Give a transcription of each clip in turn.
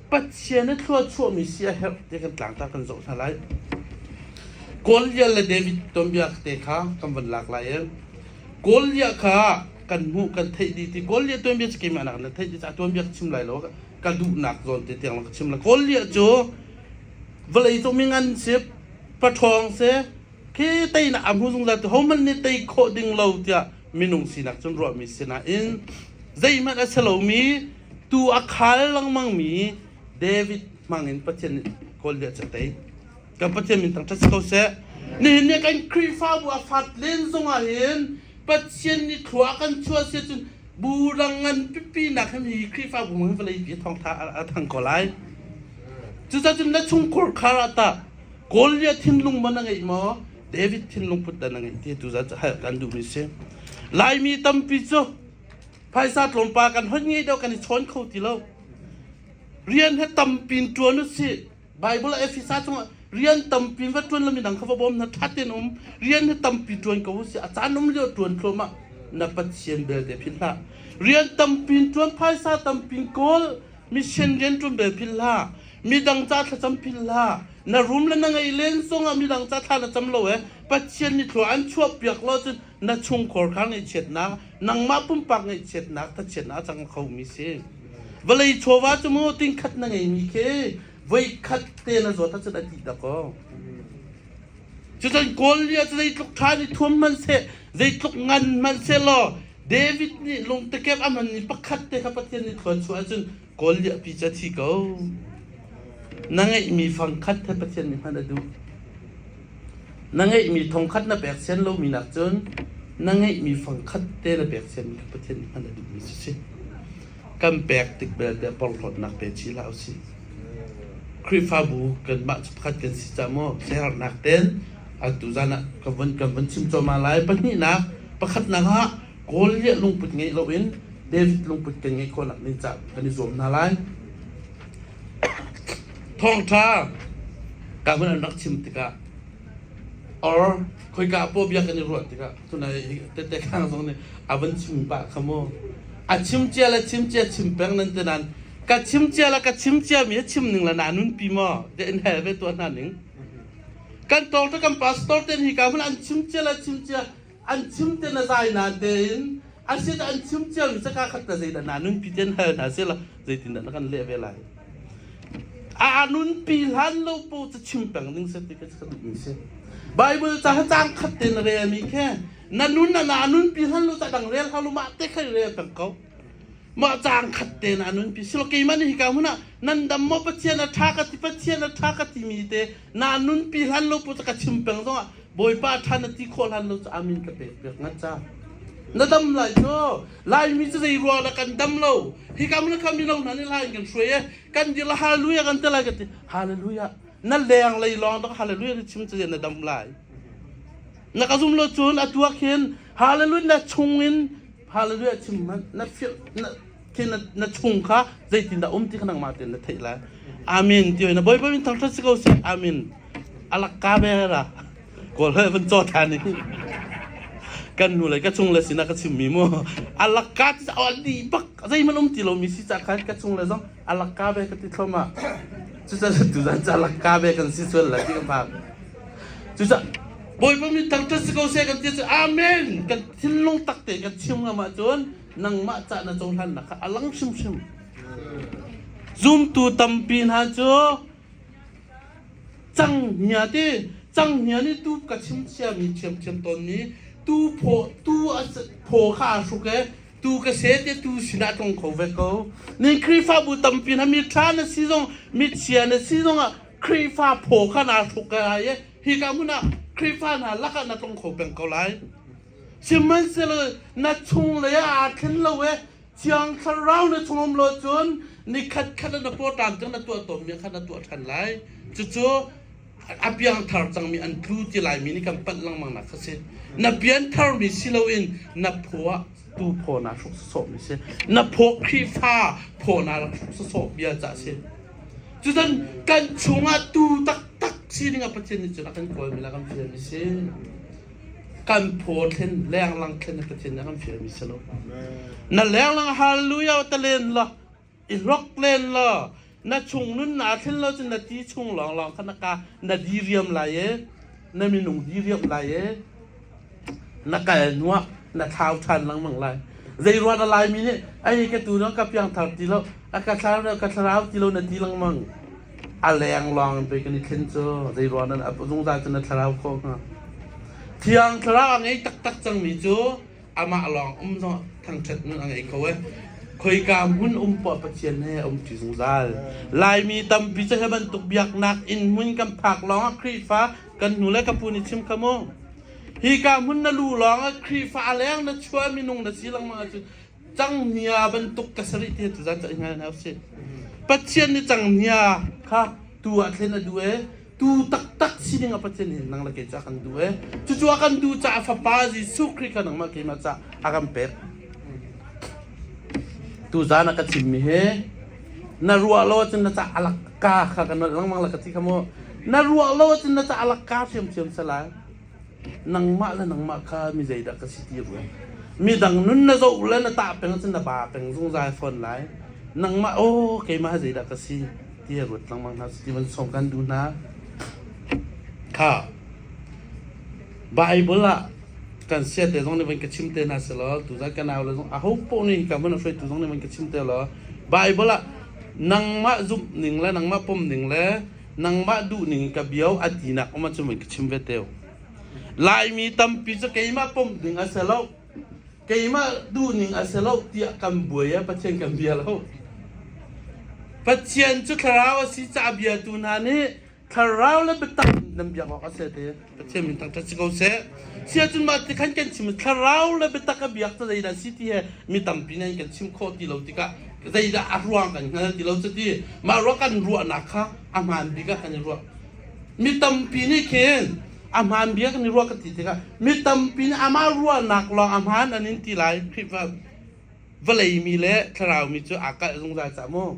Pathian a thluachuahmi siaherh te kan tlangtar kan zoh hna lai. Goliath le David tonbia te kha kan van lak lai i Goliath kha kan hmuh kan theih dih ti Goliath tuanbia cu keimah nakin na theih dih caah tuanbia ka chim lai lo ka duhnak zawn te tiang ka chim la Goliath cu vawlei cung mi ngan si paṭhawng si khi teinak a hmu zungzal tu hohmanh nih tei khawh ding lo tiah minung sinak cun ruahmi si nain zeihmanh a si lomi Tu a khal lengmangmi David hmangin Pathian nih Goliath cu tei. Kan Pathian min tang ṭhat si ko seh. Nihin ni kan Khrihfabu a fat len zongah hin Pathian nih thlua kan chuah si cun buhrang ngan pipi nak hem hi Khrihfabu hin vawlei pi thawngtha a thang ko lai. Cucacun na chungkhur khar ah tah Goliath thinlung man a ngei maw? David thinlung put dan a ngei ti tu zat kan duhmi si. Laimi tampi cu Phaisa tlawmpa kan hon nge deuh kan i chawn kho ti lo. Rian he tampin tuan u si. Bible Ephesa chung rian tampin va tuan lamin dang kha va bawm na thatin um rian he tampi tuan ko u si a caan um lio tuan tloma na pathian belte phin hla rian tampin tuan phaisa tampin kawl mission rian tum bel phin hla midang ca thlacam phin hla na rum le na ngei len sung a midang ca thla na cam lo e pathian mi thlo an chuak piak lo cun na chungkhar kha ngaihchiatnak nangmah pumpak ngaihchiatnak ka chiat a cang khomi si vawlei chawva cu mu tingkhat na ngeimi khi voikhat te na zawt acun a tih da ko cucun Goliath cu zeitluk ṭha nih thuam hman se zeitluk ngan hman se law David nih lungtekep a hmanmi pakhat te kha Pathian nih thluan chuah ahcun Kawl liahpi cu a thi ko. Na ngeihmi fang khat he Pathian nih hman a duh. Na ngeihmi thong khat na pek sian lomi nak cun na ngeihmi fang khat te na pek sian kha Pathian nih hman a duhmi si si. Kan pek tik belte porhlawtnak pe ci hlah usih. Khrihfabu kanmah cu pakhat kan si cah maw siaherhnak ten atu zan ah kan vun kan vun chim cuahmah lai pahnihnak pakhatnak ah Goliath lungput ngeih loin David lungput kan ngeih khawhnak ding ca kan i zuam hna lai. Thawngtha ka hun an rak chim tikah or khoika po bia kan i ruah tikah tuna tete khang zong nih a van chim pah kha mu a chim cia le chim cia chim peng nan te nan ka chim cia le ka chim cia mi a chim ning la na nun pi maw de in hel ve tu hna ning kan tawng te kan pastor ten hi ka hun an chim cia le chim cia an chim te na zai na tein an si an chim cia mi saka khat na zeidah na nunpi ten hal hna se la zeitin dah na kan leh ve lai a nunpi hlan lo pu ca chim peng ding se ti ka ka duh mi se bible ca cang khat te na re mi khe na nun na na nunpi hlan lo ca dang rel halu ma te khai re peng ko ma cang khat te na nunpi silo keimani hi ka huna nan dam mo pathian a tha ka ti pathian a tha ka ti mi te na nunpi hlan lo put ka chim peng zongah bawipa than na ti khawh hlan lo amin ka pek pek ngan cha na dam lai cu laimi cu zei ruang kan dam lo hi kam na kam lo na ni lai kan shui e kan dir la hallelujah kan te lai ka ti hallelujah na leng lei long da hallelujah chim chu na dam lai na ka zum lo chun atuak hin hallelujah na chung in hallelujah chim man na feel khi na, na chung kha zeitindah um ti kha nangmah tein na theih lai amin ti na boi boi thang thrat si ko si amin alak ka be ra kol he van cho tha ni kan nu le ka chung le sina ka chim mi mu alak ka ti au li bak zei man um ti lo mi si cha khan ka chung le zong alak ka be ka ti thloma cu cha tu zan cha alak ka be kan si chual la ti ka phak cu cha boi boi mi thang thrat si ko se kan ti amin kan thin lung tak te kan chim ngama chun nangmah cah na cohlannak kha a lang hrimhrim. Zumtu tampi hna cu cang hnia ti cang hnia nih tu ka chim chiami thiamthiam tawnmi tu phaw tu phaw kha a hruk e tu ka se te tu sinah tlong kho ve ko ni khrihfabu tampi hna mi tha na si zong mi chia na si zong ah khrihfa phaw kha na hruk ka hai e hi ka hmun ah khrihfa hna lakah na tlong kho peng ko lai Sihmanhsehlaw na chunglei ah aa thlen lo i Thiang Thlarau na chung um lo cun ni khatkhat na portan cang na tuah tawnmi kha na tuah ṭhan lai. Cucu a piangthar cangmi an tlu ti laimi nih kan panh lengmang nak kha si. Na piantharmi si loin na phaw ah tu phaw naa hruk sawsawhmi si. Na phaw Khrihfa phaw naa rak hruk sawsawh bia ca si. Cucun kan chungah tu taktak sining a Pathian nih cun a kan kawlmi la kan fialmi si. kan phaw thlen lenglang thlen pathian a kan fialmi si lo na lenglang hallelujah ta len lo i hlok len lo na chung nun na thlen lo cun na ti chung long long kha na ka na diriam lai e na minung diriam lai e na kal nuah na thlau than langmang lai zei ruat a lai mi nih ai ka tu nang ka piang thar ti lo a ka thlau ka thlarau ti lo na ti langmang a leng lawng in pei kan i thlen cu zeiruang nan zungzal cu na thlarau khawh hnga thiang thlarau a ngei taktak cangmi cu amah lawng um no thangṭhat nun a ngei ko e khoika hmun um pawh pathian he um ṭi zungzal laimi tampi cu hi bantuk biaknak in hmun kan phak lawngah khrihfa kan hnu le ka pu nih chim kha mu hi ka hmun na lu lawngah khrihfa a leng na chuah minung na si lengmang ahcun Canghngia bantuk ka sarih te tu zan caih ngai na si. Pathian nih canghngia kha tu ah thlen a duh e. Tu taktak sining a Pathian hin nang le kei ca kan du e. Cucu a kan du caah fapa Jesuh Khrih kha nangmah keimah ca a kan pek. Tu zan a ka chimmi hi na ruah lo cun na ca alak ka kha ka nolh lengmang la ka ti kha mu. Na ruah lo cun na ca alak ka hriamthiam salai. nangmah le nangmah kha mi zeidah ka si ti ruang midang nun na zoh le na tah peng cun na ba peng zungzal fawn lai nangmah oh keimah zeidah ka si ti a ruat lengmang hna ti van song kan duh hna kha bible ah kan sia te zong nih van ka chim te na se law tu zan ka nau le zong a ho po ni ka van hruai tu zong nih van ka chim te law bible ah nangmah zumh ning le nangmah pom ning le nangmah duhning ka bio an inak um cu min ka chim ve teu laimi tampi cu keimah pom ding a si lo keimah duhning a si lo tiah kan buai a pathian kan bia lo pathian cu thlarau a si ca bia tu hna nih thlarau le biatak nan biak awk a si te Pathian min tak si ko seh. Si ahcun mah ti khan kan chim thlarau le biatak a biak cu zeidah si ti he mi tampi nih kan chim khawh ti lo tikah zeidah a ruang kan hngal ti lo cuti mah ruang kan ruahnak kha a hmaan bik ah kan i ruah mi tampi nih khin a hmaan bia kan i ruah ka ti tikah mi tampi nih amah ruahnak lawng a hmaan an in ti lai Khrihfa vawlei mi le thlarau mi cu aa kalh zungzal cah mu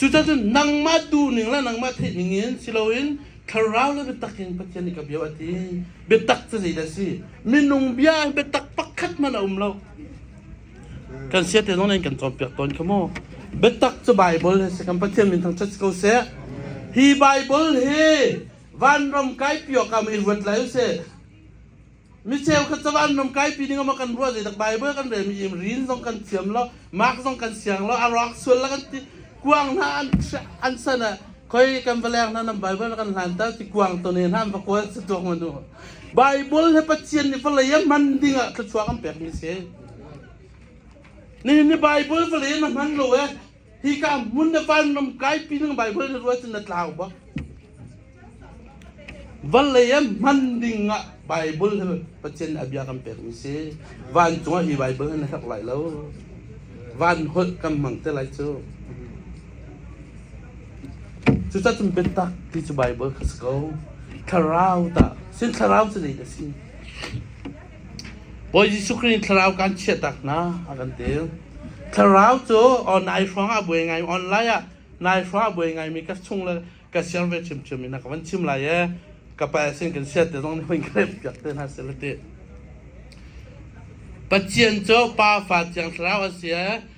Cucacun nangmah duhning le nangmah theihning in si loin thlarau le biatak in Pathian nih ka bia a ti. Biatak cu zei dah si? Minung bia biatak pakhat man a um lo. Kan sia te zong in kan cawnpiak tawn kha mu. Biatak cu Bible he si kan Pathian min thang chat si ko seh. Hi Bible hi vanram kai pio kam i ruat lai u sih. Mi cheukhat cavan ram kaipi ding ama kan ruah zeidak Bible kan rel mi im rin zong kan thiam lo mark zong kan siang lo a rawk sual la kan ti kuang hna an an sana khoi kan valeng hna nam Bible la kan hlan ta ti kuang to ne hna va kual sa tuak manu Bible he pathian ni valaya man ding a thluchuak am pek mi se ni ni Bible valaya na man lo e Hika hmun na van ram kai pi nang Bible na ruat na tlau ba. Van lei am hman ding ah Bible he Pathian abia kan pek mi si. Van cungah i Bible he na hlak lai lo. Van holh kan mang te lai cu. Cu ta tum bentak ti cu Bible ka ko. Thlarau ta. Sin thlarau cu nei da si. Bawi Jesuh Khrih nih thlarau kan chiahtak hna a kan ti. Thlarau cu oh, nai hrawngah buai ngai online ah nai hrawngah buai ngaimi ka chung le ka siang ve ṭhimṭhim in ka van chim lai i ka pa sin kan siat te zong nih hoin ka rep piak te hna seh ti. Pathian cu pafa thiang thlarau a si i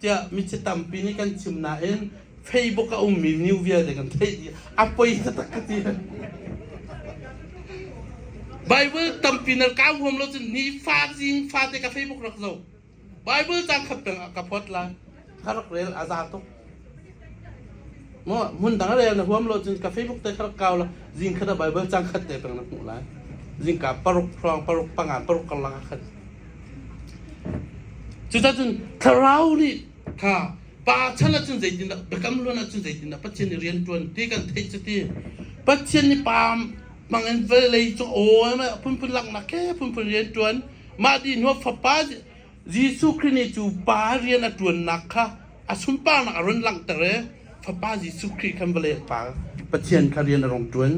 tiah mi chi tampi nih kan chim nain Facebook a ummi new vialte kan theih dih a poi taktak ka ti Bible tampi na ka huam lo cun ni fa zing fa te ka Facebook rak zo Bible cang khat peng ka phot lai har rel a za tuk mo mun dang rel na huam lo cun ka facebook te kha kau la zing khat a bible chang khat te pang na hmu lai zing ka paruk phrong paruk panga paruk kala khat cucun thlarau nih tha pa chan acun zeitin dah biakam luan acun zeitin dah pathian nih rian tuan ti kan theih cu ti pathian nih pa mangen vele cu aw ma phunphun lak nak ke phunphun rian tuan ma di nuo fapa Jesuh Khrih nih cu pa rian a ṭuannak kha a sunparnak a run langhter i Fapa Jesuh Khrih khan vawlei a pa Pathian kha rian a rung ṭuan.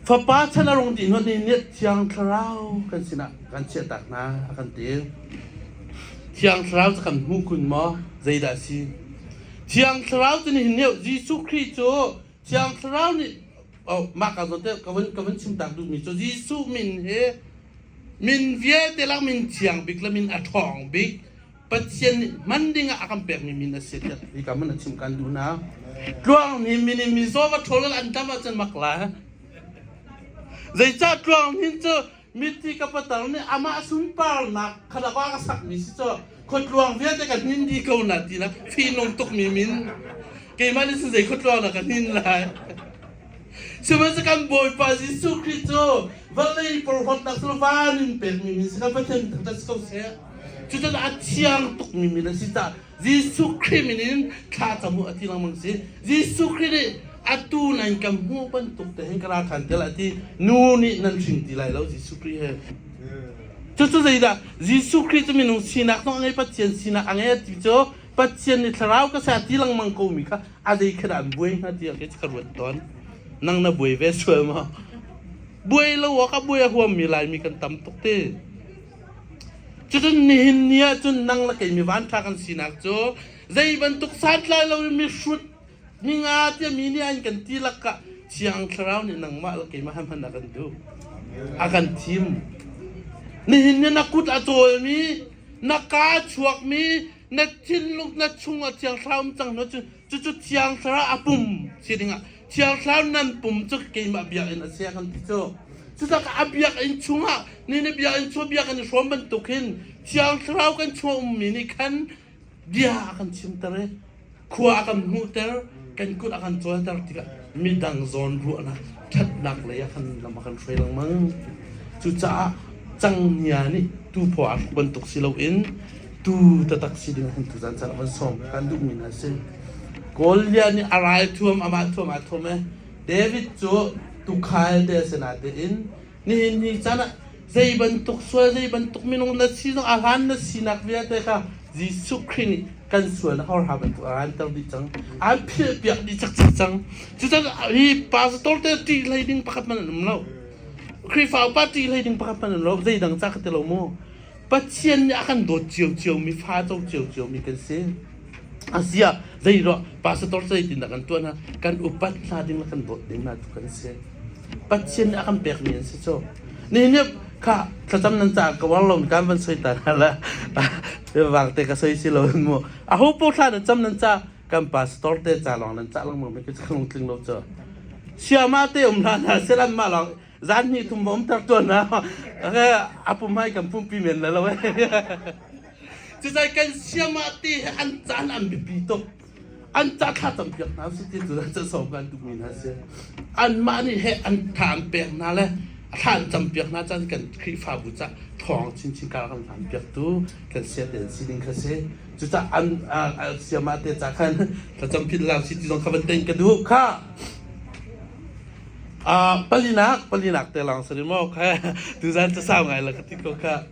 Fapa chan a rung dih hnuah nihin ni Thiang Thlarau kan sinah kan chiahtak hna a kan ti. Thiang Thlarau cu kan hmu kun maw? Zeidah a si? Thiang Thlarau cu nihin ni Jesuh Khrih cu Thiang Thlarau nih oh, mah ka zote ka vun ka vun chim tak duhmi cu Jesuh min hi min vialte lang min thiang bik le min a ṭhawng bik Pathian nih man dingah a kan pekmi min a si tiah hi ka mun a chim kan duh na tluang ni mini mi zo va ṭhol an tam ahcun mak la zeicah tluang hin cu Mithi ka patar nih amah sunparnak kha la wa ka sakmi si cu khuatluang vialte ka hnin dih ko na ti na fihnung tukmi min keimah nih zei khuatluang dah ka hnin lai sihmanhsehlaw kan Bawipa Jesuh Khrih cu vawlei porhlawtnak cu van in pekmi min si kan Pathian thangṭhat si ko seh cucun a thiang tukmi min a si tah Jesuh Khrih min in thla cam u a ti lengmang si. Jesuh Khrih nih atu nan kan hmuh bantuk te hin ka ra than tial a ti. Nu nih nan hring ti lai lo Jesuh Khrih he. Cucu zeidah Jesuh Khrih cu minung sinak zong a ngei Pathian sinak a ngei a ti cu Pathian nih thlarau ka sa ti lengmang ko mi kha a zei khat ah an buai hna ti ah khin ka ruat tawn nang na buai ve sual maw buai lo awk ah buai a huam mi Laimi kan tam tuk ti Cucun nihin ni ahcun nang le kei mivan ṭha kan sinak cu zei bantuk santlai lo in mihrut ninga tia mi nih an kan ti lakah Thiang Thlarau nih nangmah le keimah he hman a kan duh. A kan thim. Nihin ni na kut a cawlmi, na kaa a chuakmi, na thinlung, na chung a thiang thlarau um cang hna cu Cucu Thiang Thlarau a pum si dingah Thiang Thlarau nan pum cu keimah biakinn a si kan ti cu. Cutakah a biakinn chungah ni ni biakinn chung bia kan i hrawm bantuk hin Thiang Thlarau kan chung ummi nih khan bia a kan chimter i khua a kan hmuhter, kan kut a kan cawlter tikah midang zawn ruahnak ṭhatnak lei ah khan lam a kan hruai lengmang. Cucaah cangnia nih tuuphaw aa hruk bantuk si loin tu tatak si ding hun tu zan car van som kan duh mi na si Golia nih a rai thuam ama thuam a thuam e David cu tukhal te sena te in nihin ni chan ah zei bantuk sual zei bantuk minung na si zong a hlan na sinak vialte kha Jesuh Christ nih kan sual hor ha bantuk a ran ter di cang an phil piak di chak chak cang cucaah hi pastor te ti lei ding pakhat man an um lo Krifa upa ti lei ding pakhat man an lo zei dang cha ka te lo mu Pathian nih a kan dawt ciociomi, fato ciociomi kan si. A ziah zeiruah pastor zeitindah kan tuah hna kan upat hla ding le kan dawt ding hna cu kan si. Pathian nih a kan pekmi an si cu. Nihin niap kha thlacam nan ca ka war lo kan van soi ta na la wang te ka soi si lo mu a ho po thla na cham nan ca kan pastor te ca long nan ca lang mu mi ke kan tling lo cho siama te um hla na selan ma long zan hnih thum um ter tuan na ake apu mai kan pumpi men la lo cizai kan siam ah ti an caan an bipi tuk an ca thla tam piak na su ti tu ca so kan tu min ha se an ma ni he an than pek na le thlan cam piak na chan kan khrifa bu cha thong chin chin ka kan than piak tu kan sia den sining kha se cu cha an siama te cha khan tha cham phin lao si ti zong kha ban ten ka du kha Uh, palinak palinak te lawng sari maw kha tuzan casau ngai la ka ti ko kha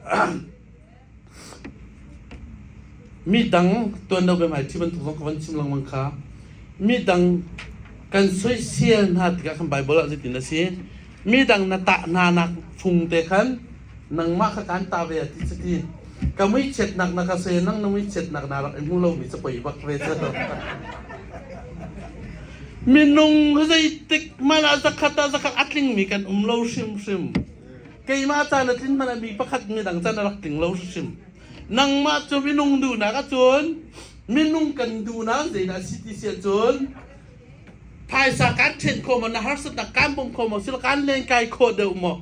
mi dang tuan do be mai thi ban tung ka van chim lang mang kha mi dang kan soi sia hna tika kan bible a zitin na si mi dang na ta hna nak phung te khan nangmah ka kaan ta ve a ti cuti ka muichiatnak na ka se nang na muichiatnak na rak i hmu lomi cu poi bak ve cu minung zeitik mala zakhat a zakhat a tlingmi kan um lo hrimhrim keimah caan a tlin hman a mi pakhat midang caan a rak tling lo hrimhrim nangmah cu minung duhnak ahcun minung kan duhnak zeidah si ti si ahcun phaisa kan ṭhen kho maw na harsatnak kan bawm kho maw sila kan len kai kho deuh maw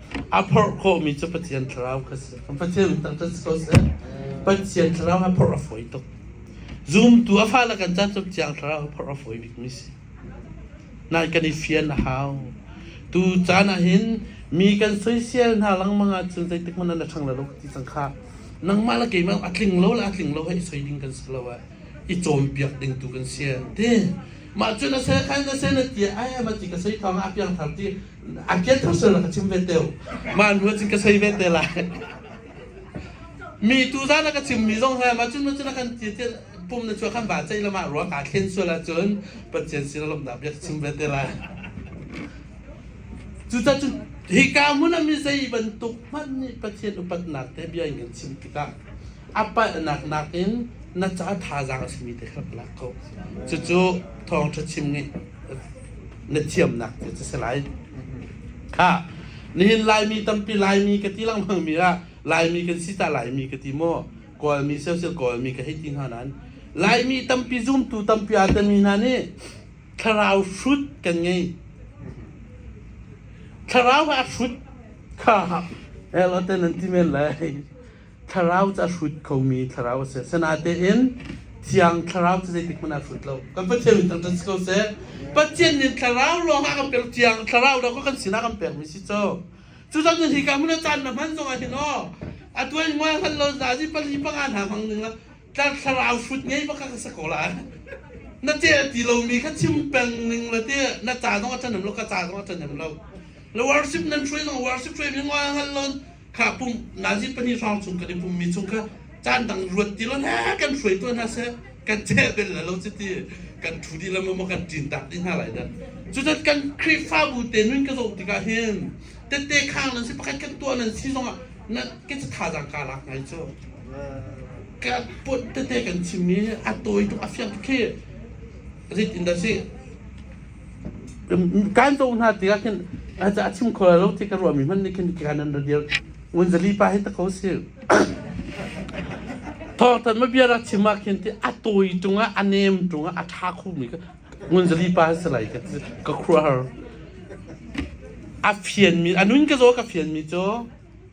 A phorh khawhmi cu Pathian thlarau kha a si. Pathian biatak cu si ko seh. Pathian thlarau a phorh a fawi tuk. Zumtu a fale kan caan cu Thiang Thlarau a phorh a fawi bikmi a si. Nain kan i fian a hau. Tu caan ah hin mi kan soisel hna lengmang ahcun zeitik hmanh an a ṭhang lo lo ti cang khah. Nangmah le keimah a tling lo le a tling lo he i soi ding kan si lo ah i cawnpiak ding tu kan si an ti. Mah cu na seh khan na seh na ti ai va ti ka soi thawng ah a piangthar ti a kiat thang sal ka chim ve teo ma nu cin ka sei ve te la mi tu za la ka chim mi zong ha ma cun ma cun kan ti ti pum na chua kan ba chai lama ruang ka thlen suala cun pathian sin lom da bia chim ve te la cu ta cun hi ka mun ami zei bantuk hman ni pathian upatnak te bia in kan chim tikah apa nak nak in na cha tha zang a simi te khlap la ko cu cu thong tha chim ngi na thiamnak cu a si lai. Khah, nihin Laimi tampi Laimi ka ti lengmangmi ah Laimi kan si ta Laimi ka ti maw? Kawlmi siosel Kawlmi ka hei ti hna nain Laimi tampi zumtu tampi aa tami hna nih thlarau hrut kan ngei. Thlarau ah hrut kha el awten an ti men lai. thlarau cu a hrut khomi thlarau a si. Asinatein Thiang Thlarau cu zeitik hmanh ah a hrut lo. Kan Pathian min kan si ko seh. Pathian nih thlarau lawng ah kan pek, Thiang Thlarau lawng kha kan sinah kan pekmi si co. Cucang cun hi ka hmun ah caan na hman zongah hin aw, a tuan hmual hngal lo zazi pali panga hna hmang ning ah tlar thlarau hrut ngei bak ka sa ko lai. Na te a ti lomi kha chim peng ning le te na ca zong a ṭhanem lo, ka ca zong a ṭhanem lo. Na worship nan hruai zong worship hruai mi ngol hngal lo kha pum nazit pahnih hrawng chung kan i pummi chung kha caan dang ruat ti lo hna kan hruai tuah hna seh kan cheh bel la lo chiti kan thu di lam ma kan tin tak ding hna lai da cutan kan khrihfabu te nun ka zoh tikah hin tete khang nan si pakhat kan tuah nan si zong ah nan ke ca tha jang ka lak ngai cu ka pot tete kan chimmi a tawi tuk a fiang khi rit in da si kan to hna ti ah khin a chim kho lo ti ka ruahmi hmanh nih khin kan an ra dir ngunzali pa hi ta ko si thawhtan ma bia rak chim ah khin ti a tawi cungah a nem cungah a tha khomi ngunzali pa si lai ka ka khruar a fian mi anun ka zo ka fian mi cu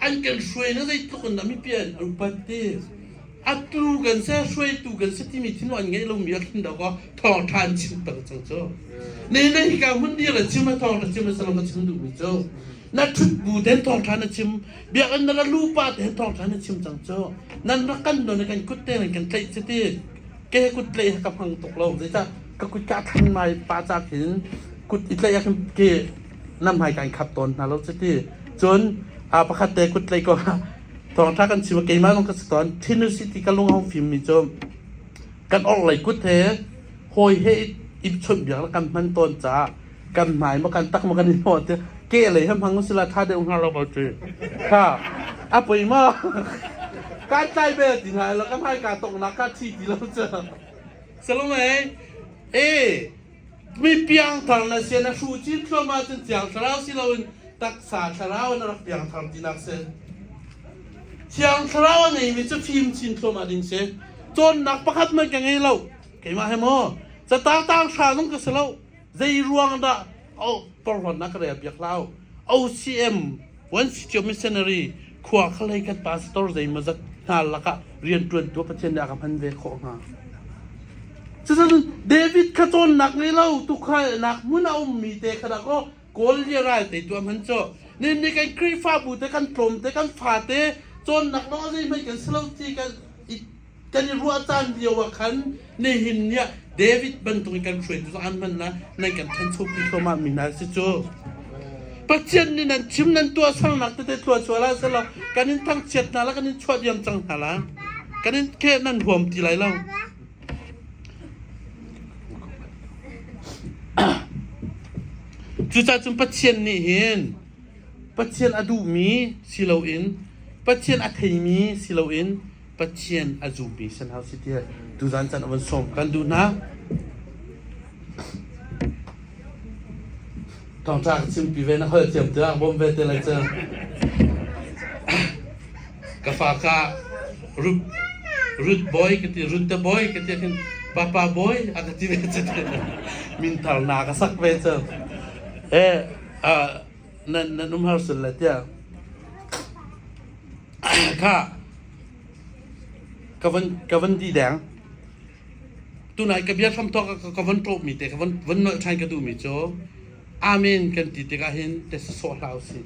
an kan hruainak zeitluk in dah mipi an upat ti atu kan se hruaitu kan se timi thinu an ngeih lomi a thlen dawk thawng ṭha an chim peng cang cu ne ne hika hmun dir a chim a thawng ṭha chim a salam a chim duhmi cu na ṭhut bu ten thawng ṭha na chim biak an nala lu pa te thawng ṭha na chim cang cu nan rak kan don kan kut te nan kan tlaih che ti ke kut tlaih ha ka hmang tuk lo zeicah ka kut ka than mai pa cak hin kut i tlaih ha ke nam hai kan khat tawn hna lo chiti cun a pakhat te kut lei ko thawngtha kan chim keimah lung ka si tawn thinu city ka lung hong fim mi cu kan or lei kut he hoi he ip chunh biak la kan hman tawn ca kan mai ma kan tak ma kan i ho te ke lei hem hang sila tha deu nga lo ba chu ha a poi ma kan tlai be ti na lo kan hai ka tok na ka thi ti lo cha salom ai e Mi piangthar na si na hru chin thluahmah cun Thiang Thlarau si loin taksa thlarau in a rak piangthar tinak si. Thiang Thlarau a ngeimi cu fim chin thluahmah ding si. Cawnnak pakhat man ka ngei lo. Keimah he maw catatang hra zong ka si lo. Zei ruang dah o porhon na ka rel piak lau. OCM Welsh cio missionary khua khalei kan pastor zeimazat hna lakah rianṭuantu Pathian nih a ka hman ve khawh hnga. Cucun David kha cawnnak ngei lo tukhainak hmun a ummi te ka rak o kawl lia ral te tu hman cu nin ni kan khrihfabu te kan tlawm te kan fa te cawnnak lo zeihmai kan si lo ti kan kan i ruah caan lio ah khan nihin ni ah David bantuk in kan hruaitu cu an hmannak nan kan thanchopi thluahmah mi hna si cu Pathian nih nan chim nan tuah sualnak tete tuah sual ah selaw kan in thangchiat hna la kan in chuah diam cang hna la kan in ke nan huam ti lai lo cucacun Pathian nih hin Pathian a duhmi si loin Pathian a theimi si loin Pathian a zummi san hau si tiah tuzan caan a van sawm. Kan duh hna. Thawngṭha ka chimpi ve na hal thiam te ah bawm ve te lai cang. Ka fa ka Ruth Ruth boy ka ti Ruth te boy ka ti khin papa boy a ka ti ve te min thar na ka sak ve cang. Eh, uh, nan nan um har sul la tiah ka van di deng. Tunai ka bia hramthawk ka van ṭawhmi te, ka van nolh ṭhan ka duhmi cu Amen kan ti tikah hin tesa sawh hlah usih.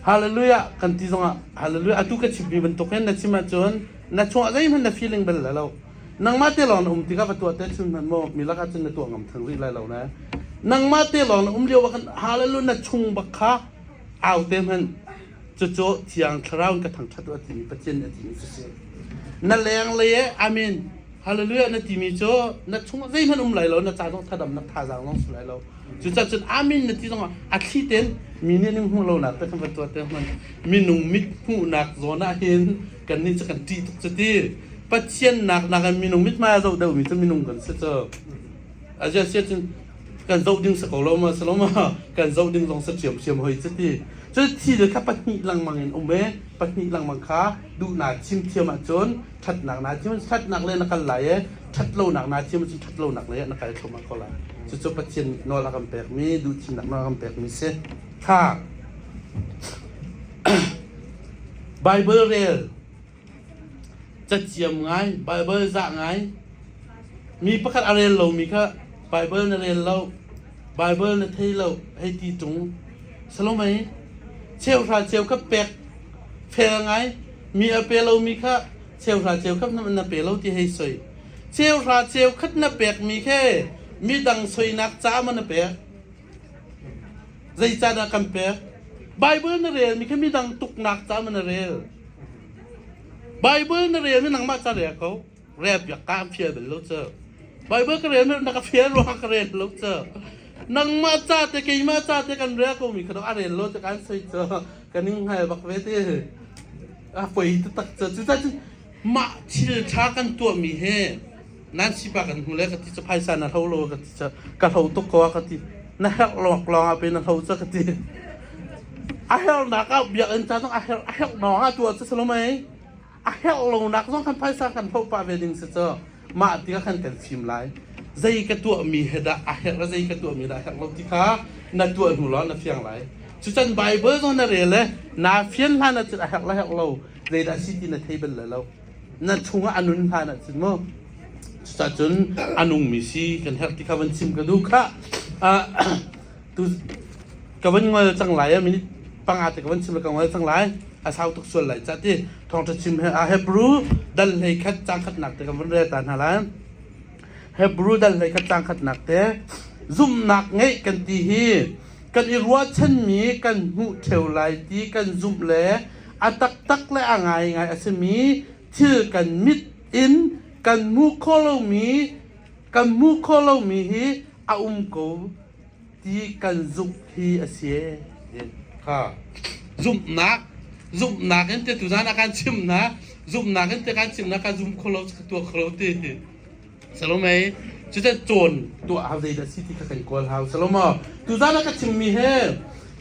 Hallelujah kan ti zongah hallelujah atu ka chimmi bantuk hin na chim ahcun na chungah zeihmanh na feeling bal lo nangmah te lawng na um tikah va tuah te chun hman maw mi lakah cun na tuah ngam theng rih lai lo ne nangmah te lawng na um lio ah khan hallelujah na chung bak kha au te hmanh cucu thiang thlarau in ka thangṭhat u timi Pathian na timi cu si na lenglei amen hallelujah na timi cu na chungah zeihmanh um lai lo na ca zong thadam na thazaang zong si lai lo cucacun amin na ti zongah a thli ten mi nih ning hmuh lonak te kan van tuah te hman minung mit hmuhnak zawn ah hin kan nih cu kan ṭih tuk cu ti pathian nak nakin minung mit hmai a zo deuhmi cu minung kan si cu a ziasia cun kan zoh ding si ko lo ma si lo ma kan zoh ding zong si thiamthiam hoi ci ti cu thi le kha pahnih lengmang in um e pahnih lengmang kha duhnak chim thiam ahcun ṭhatnak na thiam ṭhatnak le na kal lai e ṭhat lonak na thiam ahcun ṭhat lonak le na kal thluamah ko lai cucu Pathian nih nawl a kan pekmi duh thimnak nawl a kan pekmi si kha Bible rel Cathiam ngai, Baibal zah ngai. Mi pakhat a rel lomi kha Baibal na rel lo, Baibal na thei lo hei ti ṭung. Salome, cheuhra cheu kha pek fel ngai. Mi a pe lomi kha cheuhra cheu khat na pe lo ti hei soi. Cheuhra cheu khat na pekmi khe midang soinak ca maw na pek? Zeicahdah kan pek? Baibal na relmi kha midang tuknak caah na rel. Baibal na relmi nangmah ca rel ko. Rel piak ka an fial bel lo cu. Baibal ka relmi na ka fial ruang ka rel lo cu. Nangmah ca te keimah ca te kan rel ko mi kha a rel lo cu kan soi cu kan ning hngal bak ve te. A poi te tak cu. Cucun mah thil ṭha kan tuahmi hi nan sipa kan hmu le ka ti cu phaisa na hlo lo ka ti cu ka hlo tuk ko ka ti na herh lawk lawng ah pe na hlo cu ka ti a herh nak ah biak in chan a herh a herh nawng ah tua cu salo mai a herh lo nak zong kan phaisa kan hlo pa ve ding se cu mah ti kan kan sim lai zei ka tuah mi he dah a herh zei ka tuah mi dah herh lo ti kha na tuah hnu lo na fiang lai cu chan bible zong na rel le na fian hlan na cin a herh la herh lo zei dah si ti na thei bel le lo na chungah a nun hlan ahcun maw cucah cun a nungmi si kan herh ti kha van chim ka duh khah ah tu ka van ngol cang lai a minute panga te ka van chim le ka ngol cang lai a sau tuk sual lai cah ti thawngtha chim he a hebrew dal hlei khat cang khatnak te ka van rel ta hna lai hebrew dal hlei khat cang khatnak te zumhnak ngeih kan ti hi kan i ruahchanmi kan hmuh theo lai ti kan zumh le a taktak le a ngaingai a simi thil kan mit in kan hmuh khawh lomi kan hmuh khawh lomi hi a um ko ti kan zumh hi a si kha zumhnak zumhnak in te tuzan a kan chimnak zumhnak in te kan chimnak kan zumh kho lo tuah kho lo ti Salome cucu cawn tuah hau zeidah si ti kha kan kawl hau Salome tuzan ah ka chimmi he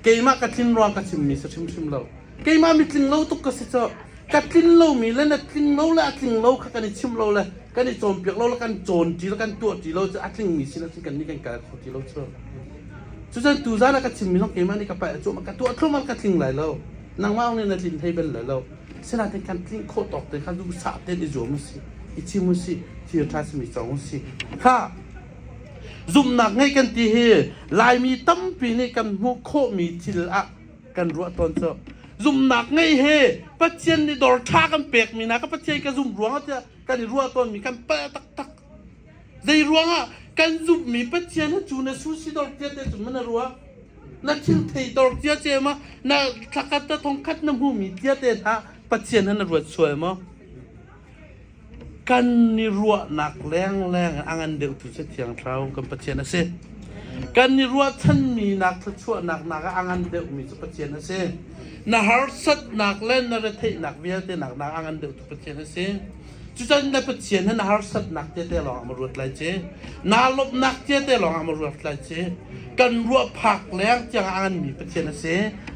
keimah ka tlin ruang ka chimmi si hrimhrim lo keimah mitling lo tuk ka si cu ka tlin lomi le na tling lo le a tling lo kha kan i chim lo le kan i cawnpiak lo le kan cawn ti le kan tuah ti lo cu a tlingmi sinah cun kan nih kan kal kho ti lo cu cucun tuzan ah ka chimmi zong keimah nih ka paih a cuah ka tuah thlumal ka tling lai lo nangmah ong nih na tlin thei bel lai lo Sinain tlamtlinh khawh tawk te kha nu sa tein i zuam usih, i chim usih, thilṭha simi cawng usih. Khah! Zumhnak ngeih kan ti hi Laimi tampi nih kan hmuh khawhmi thil ah kan ruah tawn cu zumhnak ngei he Pathian nih dawr ṭha kan pekmi hna kha Pathian ka zumh ruangah tiah kan i ruah tawnmi kan palh taktak. Zeiruangah kan zumhmi Pathian ha cu na susidor cia te cun na ruah? Na thil theitor cia ce ma? Na thlakhat te thongkhat na hmumi cia te hna Pathian ha na ruat sual maw? Kan i ruahnak lengleng a ngan deuhtu si Thiang Thlarau kan Pathian a si. Kan i ruahchanmi nak thluachuahnak nak ah a ngan deuhmi cu Pathian a si. Na harsatnak le na retheihnak vialte nak nak a ngan deuhtu Pathian a si. Cucun na Pathian hin harsatnak tete lawngah ma ruat lai ci. Naa lawmhnak tete lawngah ma ruat lai ci. Kan ruah phak leng tiang a nganmi Pathian a si.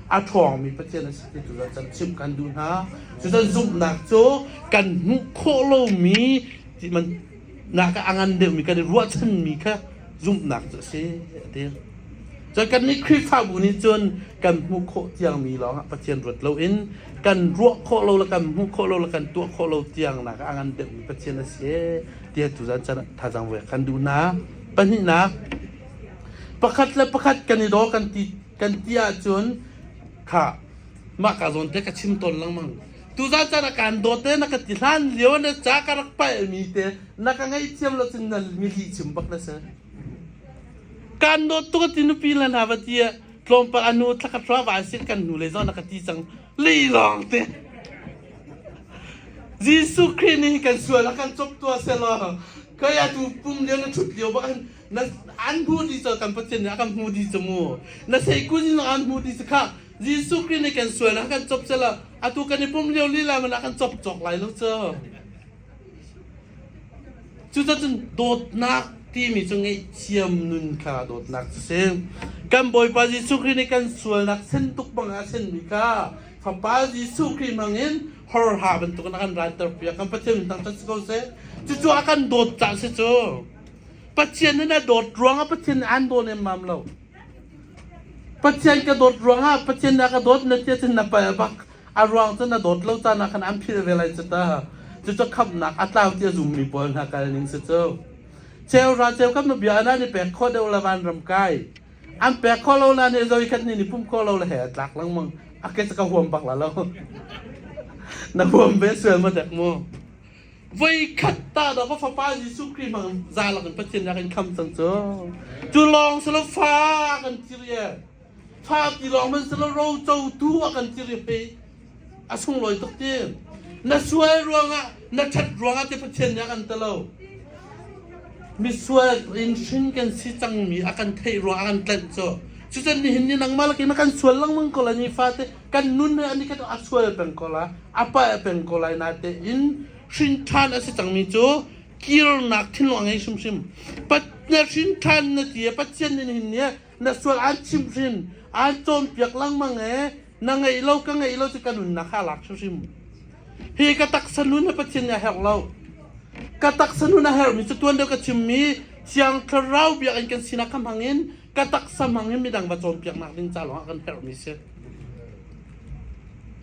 A ṭhawngmi Pathian a si ti tu can chimh kan duh hna. Cucun zumhnak cu kan hmuh khawh lomi ti man nak a ngan deuhmi kan i ruahchanmi kha zumhnak cu a si a ti. Cun kannih Khrihfabu nih cun kan hmuh khawh tiangmi lawngah Pathian ruat loin kan ruah khawh lo le kan hmuh khawh lo le kan tuah khawh lo tiangnak a ngan deuhmi Pathian a si ee ti a tu zan chan thazang voi kan duh hna. Pahnihnak, pakhat le pakhat kan i daw kan ti kan ti ahcun kha mah ka zawn te ka chim tawn lengmang. Tuzan chan ah kan dawt te na ka ti hlan lio na ca ka rak palmi te na ka ngei thiam lo cun na mi lih chim bak na si. Kan dawt tuk a ti nupi le hna va ti ah tlawmpal a nu thlakhat hruah va si kan nu le zawn a ka ti cang lilawng te. Jesuh Khrih nih kan sual a kan cop tua selaw koi atu pum lio na thut lio bak na an hmu di cho kan pathian nih a kan hmu di chu mu na sei kun in an hmu di chu kha Jesuh Khrih nih kan sual a kan cop selaw atu kan i pum lio lila man a kan cop cok lai lo cho. Cucacun dawtnak timi cu ngaihthiam nun kha dawtnak cu si. Kan Bawipa Jesuh Khrih nih kan sualnak sen tuk bangah a senmi kha Fapa Jesuh Khrih hmangin horha bantukin a kan ranter piak. Kan Pathian min thangṭhat si ko seh. Cucu a kan dawt caah si cu. Pathian in a dawt ruangah Pathian nih aan dawn emmam lo. Pathian ka dawt ruangah Pathian nih a ka dawt na tia cun na pal bak. A ruang cu na dawt lo caan ah khan an phil ve lai cu ta. Cucu khamnak a tlau tiah zummi pawl hna kal ning si cu. Ceu ra ceu kam na bia nan i pek khawh deuh le van ram kai. An pek khawh lo na nih zawi khat nih ni pumh khawh lo le he a tlak lengmang. A ke cu ka huam bak la lo. na huam ve sual ma dek mu. Voi khat ta da va fapa Jesuh Khrih mang zalak in Pathian nak in kham sang cu. Cu lawng si lo fa kan cir ye. fa tilawng man si lo rocotu a kan ti rip i a sunglawi tuk ti na sual ruangah na ṭhat ruangah ti pathian nih a kan ti lo misual in hrin kan si cangmi a kan theih ruang a kan tlanh cu cucun nihin ni nangmah lakin kan sual lengmang ko la ni fate kan nun he ani kan a sual peng ko la a pa peng ko lai na te in hrin ṭhan a si cangmi cu kirnak thinlung a ngei hrimhrim pat na hrin ṭhan na ti pathian nih nihin ni na sual aan chimhrin, aan cawnpiak lengmang e, na ngeih lo ka ngeih lo cu ka nunnak kha lak hrimhrim. Hi ka taksa nun na Pathian nih a herh lo. Ka taksa nun a herhmi cu tuan deuh ka chimmi Thiang Thlarau biak in kan sinak kha hmangin ka taksa hmangin midang va cawnpiaknak ding ca lawngah kan herhmi si.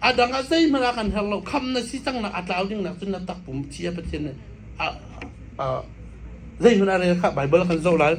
A dang ah zeihmanh a kan her lo. Kham na si cang nak a tlau ding nak cun na tak pum ci a Pathian nih a a zeihmanh a rel kha Baibal kan zoh lai.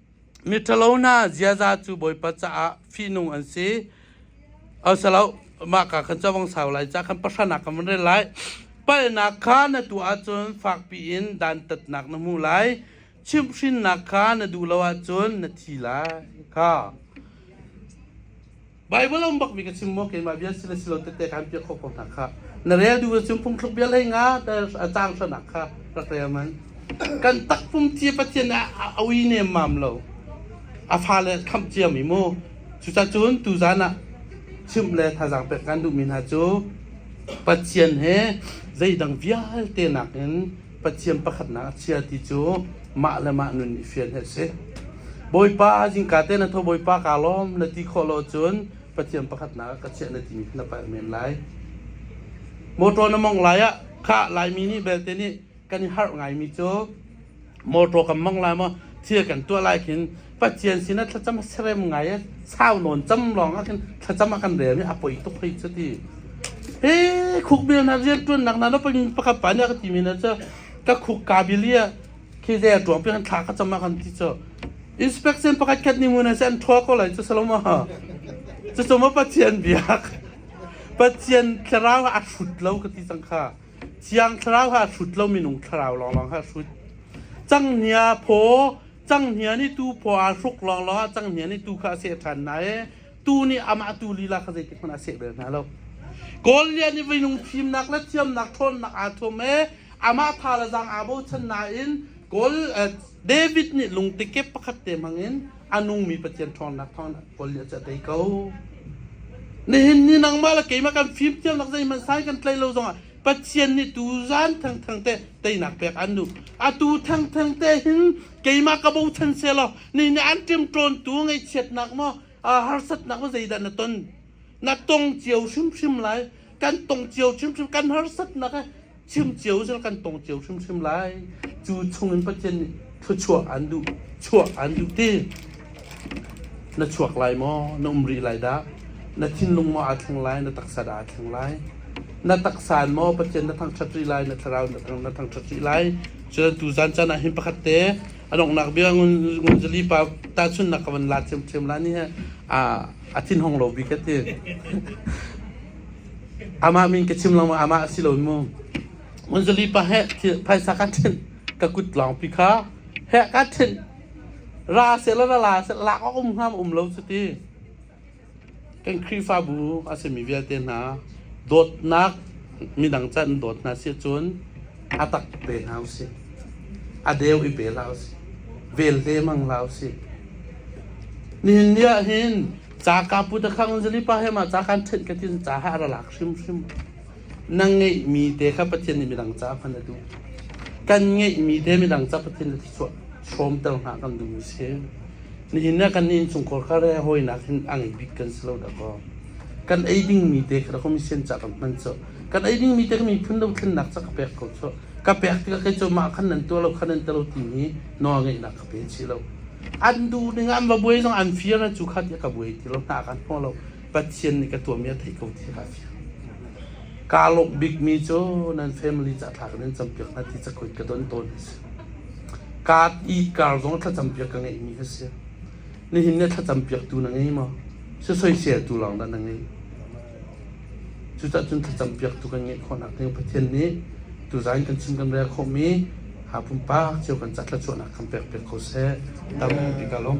Miṭhalo hna ziaza cu Bawipa caah fihnung an si. Au silo, mah ka kan cavang sau lai, ca kan pahranak kan van rel lai. Palhnak kha na tuah ahcun fakpi in dantatnak na hmu lai. Chimhhrinnak kha na duh lo ahcun na thi lai. Kha Baibal a um bakmi ka chim maw keimah bia si le si lo tete kan piah khawh ko hna kha na rel duh na chim phungthluk bia lei nga te a cang sanak kha rak rel man kan takpum cia pathian a a ui nem mam lo a fale kham cia mi mu cucacun tu zan ah chim le thazang pek kan duhmi hna cu pathian he zeidang vialte nakin Pathian pakhatnak a chia ti cu mah le mah nun i fian hi a si. Bawipa jingka te na tho Bawipa ka lawm na ti khawh lo cun Pathian pakhatnak ka chiah na timi na palh men lai. Motor na mong lai ah kha laimi nih belte nih kan i harh ngaimi cu motor kan mong lai maw thil kan tuah lai khin Pathian sinah thlacam a serem ngai i sau nawn cam lawng ah khin thlacam a kan rel i a poi tuk hei cu ti. He khuk bil na rian tuannak na pin pakhat pa nih a ka ti mi na cu ka khuk ka bili a khi ze tuang pi kan thla ka cham a kan ti cu inspection pakhat khat ni mun se an thua ko lai cu saloma cu chuma pathian biak pathian thlarau ha a hrut lo ka ti cang kha chiang thlarau ha hrut lo minung thlarau lawng lawng ha hrut cang nia phaw Canghngian i tu phaw aa hruk lawnglawng ah canghngian i tu kha a seh ṭhan hna i tu nih amah tu lila kha zeitikhmanh a seh bel hna lo. Kawl Lian i veinung thimnak le thiamnak ṭhawnnak aa thuam i amah tha le zaang aa bochan nain Kawl eh, David nih lungti kep pakhat te hmangin a nungmi Pathian ṭhawnnak thawng Kawl Lian cu a tei ko. Nihin ni nangmah le keimah kan fimthiamnak zeihmanh sai kan tlei lo zongah Pathian nih tu zan thangthang te teinak pek an duh atu thangthang te hin keimah ka bochan se law ni ne an ṭim ṭawn tu ngaihchiatnak maw harsatnak maw zeidah na ton na tong cio hrimhrim lai kan tong cio hrimhrim kan harsatnak chim cio zong kan tong cio hrimhrim lai cu chungin Pathian nih thluachuah an duh chuah an duh ti na chuak lai maw na um rih lai dah na thinlung maw aa thleng lai na taksa dah aa thleng lai na taksan maw pathian na thangṭhat rih lai na thlarau na thangṭhat rih lai cun tu zan can ah hin pakhat te anongnak bia ngunzali pa tahchunnak ka van la thiamthiam la ni he a thin hong lo bi ka ti amah min ka chim lang ma amah a si lo mu Munzali pa heh thil phaisa kaa thenh ka kut lawng pi kha heh kaa thenh ra sehla ra la seh lak a um hram um lo cuti kan Khrihfabu a simi vialte hna dawtnak midang ca in dawt hna si cun a tak te hna usih a deu i pe hlah usih vel te mang hlah usih nihin ni ah hin ca ka pu te khang zali pa he ma ca kan thenh ka tin ca ha ra lak hrimhrim na ngeihmi te kha Pathian nih midang caah hman a duh. Kan ngeihmi te midang caah Pathian nih hrawmter hna kan duhmi a si. Nihin ah kan innchungkhar kha hawinak hin a ngei bik kan si lo dakaw. Kan ei dingmi te kha kum sen ca kan hman cu. Kan ei dingmi te ka miphun dothlennak ca ka pek ko cu. Ka pek tikah kai cu mah khan nan tuah lo khan nan tuah lo timi nawl ngeihnak ka pe chi lo. An duh ning an va buai zong an fir na cu kha ti ka buai ti lo hna kan hmu lo. Pathian nih ka tuahmi a theih ko ti kha a fiang. Kaa lawmh bikmi cu nan family ca thla kan in campiak hna ti cakuat ka don tawn a si. Kaa i kar zong thlacampiak ka ngeihmi ka si. Nihin ne thlacampiaktu na ngei maw? Sisoisel tu lawng dah na ngei? Cucahcun thlacampiaktu kan ngeih khawhnak ding Pathian nih tuzan kan chim kan rel khawhmi ha pumpak cio kan ca thluachuahnak kan pekpiak ko seh. Tampi ka lawm.